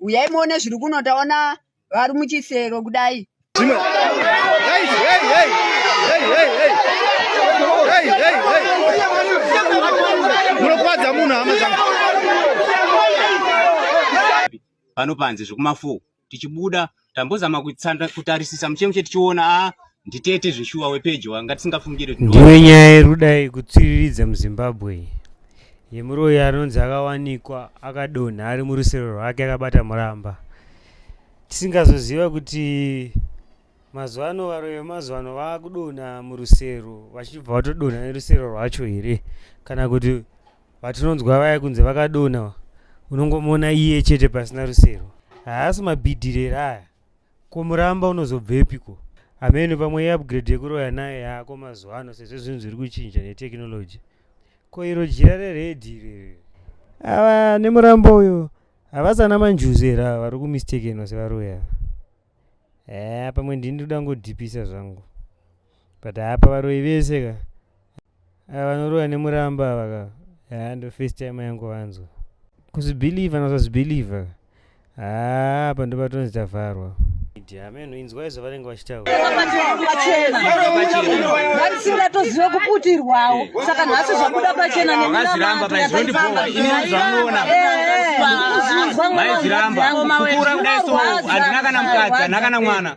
uyai muone zviri kuno taona vari muchisero kudai munokwadza munhu hama dzangu pano panze zvekumafour tichibuda tambozama kutsanda kutarisisa muchemu che tichiona a nditete zveshuwa wepedyo wanga tisingafungire ndiyo nyaya yerudai kutsiriridza muzimbabwe yemuroyi anonzi akawanikwa akadonha ari murusero rwake akabata muramba tisingazoziva kuti mazuva ano varoyi vemazuva ano vava kudonha murusero vachibva vatodonha nerusero rwacho here kana kuti vatinonzwa vaya kunze vakadona unongomuona iye chete pasina rusero haasi mabhidhirera aya komuramba unozobvepiko amene pamwe iupgrade yekuroya naye yaako mazuva ano sezvo zvinhu zviri kuchinja netechnology ko iro jira reredhi irere ava nemurambo uyo havasana manjuzu here ava vari kumistakenwa sevaroya haa pamwe ndini ndoda ngodhipisa zvangu but hapa varoyi vese ka Ah, vanoroya nemuramba ava ka haa ndo first time yangu vanzwa kuzvibhilivha nazvazvibhilivha haa apa ndopatonzi tavharwa hameno inzwa izvo vanenge vachitaura vatisingatozive kuputirwawo saka nhasi zvabuda pachena nemunamaizvirambakukura kudai so handina kana mukadzi handina kana mwana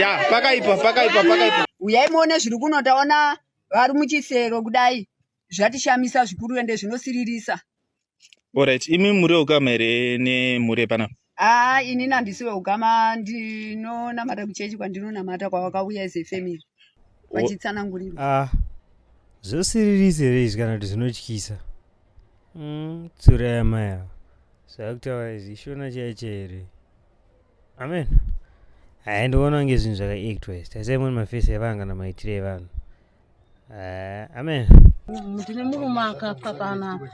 ya pakaipa pakaipa pakaipa uyai muone zviri kuno taona vari muchisero kudai zvatishamisa zvikuru ende zvinosiririsa Alright, imi muri ukama here nemhuri pana? Ah, ini nandisi weukama ndinonamata kuchechi kwandinonamata kwavakauya as a family. Vachitsanangurira. Ah. Zvosiririsi here izvi kana kuti zvinotyisa? Mm, tsura yamaya. Zvakutaura izvi ishona chaicho here? amen aya ndiona kunge zvinhu zvakaactwa izvi taisai moni mafesi evanhu kana maitire evanhu eh, amen ndine murume akafa panapa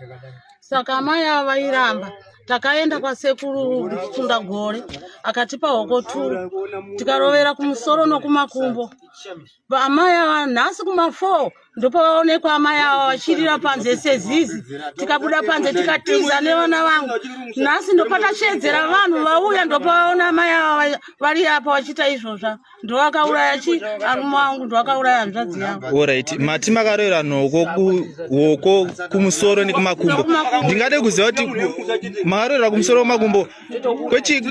saka amai ava vairamba takaenda kwasekuru kufunda gore akatipa hoko turu tikarovera kumusoro nokumakumbo amai ava nhasi kuma4 ndopavaonekwa amai ava vachirira panze sezizi tikabuda panze tikatiza nevana vangu nhasi ndopatashedzera vanhu vauya ndopavaona amai ava vari apa vachiita izvozva ndovakauraya chi arume wangu ndovakauraya hanzvadzi yavo orit mati makaroera nhoko kumusoro nekumakumbo ndingade kuziva kuti makaroera kumusoro kumakumbo kwechii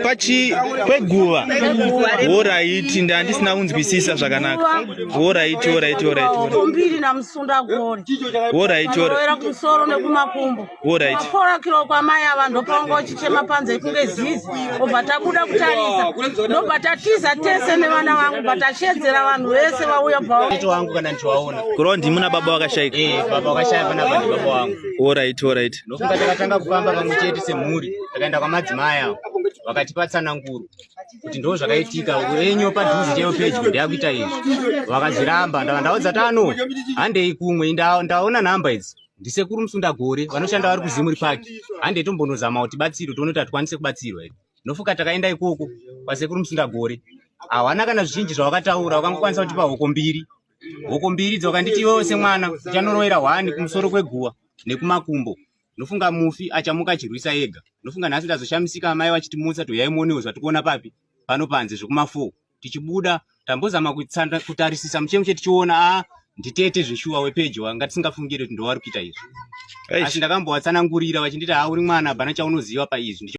pachii kweguva horaiti ndandisina kunzwisisa zvakanaka horaiti horaiti horaitiombiri namusunda gore horaitioera kumusoro nekumakumbo horaitfora kiro kwamai ava ndopanga uchichema panze kunge zizi obva tabuda kutarisa ndobva tatiza tese nevana vangu bva tashedzera vanhu vese vauya bvawangu kana ndichiwaona kurondimuna baba vakashaika eh, baba vakashaika pana baba vangu horaiti horaiti ndofunga takatanga kufamba pamwe chete semhuri takaenda kwamadzimai avo vakatipa tsananguro kuti ndo zvakaitika enyu padhuzi chaiyo pedyo ndiyakuita izvi vakazviramba ndava ndaudza tano handei kumwe ndaona nhamba idzi ndisekuru musundagore vanoshanda vari kuzimuri park handei tombonozama kuti batsiro toone kuti hatikwanise kubatsirwa here ndofunga takaenda ikoko kwasekuru musundagore hawana kana zvizhinji zvavakataura vakangokwanisa kutipa hoko mbiri hoko mbiri dzoka nditi iwewe semwana uchanorovera hwani kumusoro kweguva nekumakumbo ndofunga mufi achamuka achirwisa ega ndofunga nhasi tazoshamisika amai vachitimutsa toyai muonewo zvatikuona papi pano panze zvekumafoo tichibuda tambozama kutarisisa muchemu che tichiona a ah, nditete zveshuwa wepedyo wanga tisingafungire kuti ndowari kuita izvi asi ndakambowatsanangurira vachinditi ha ah, uri mwana bana chaunoziva paizvi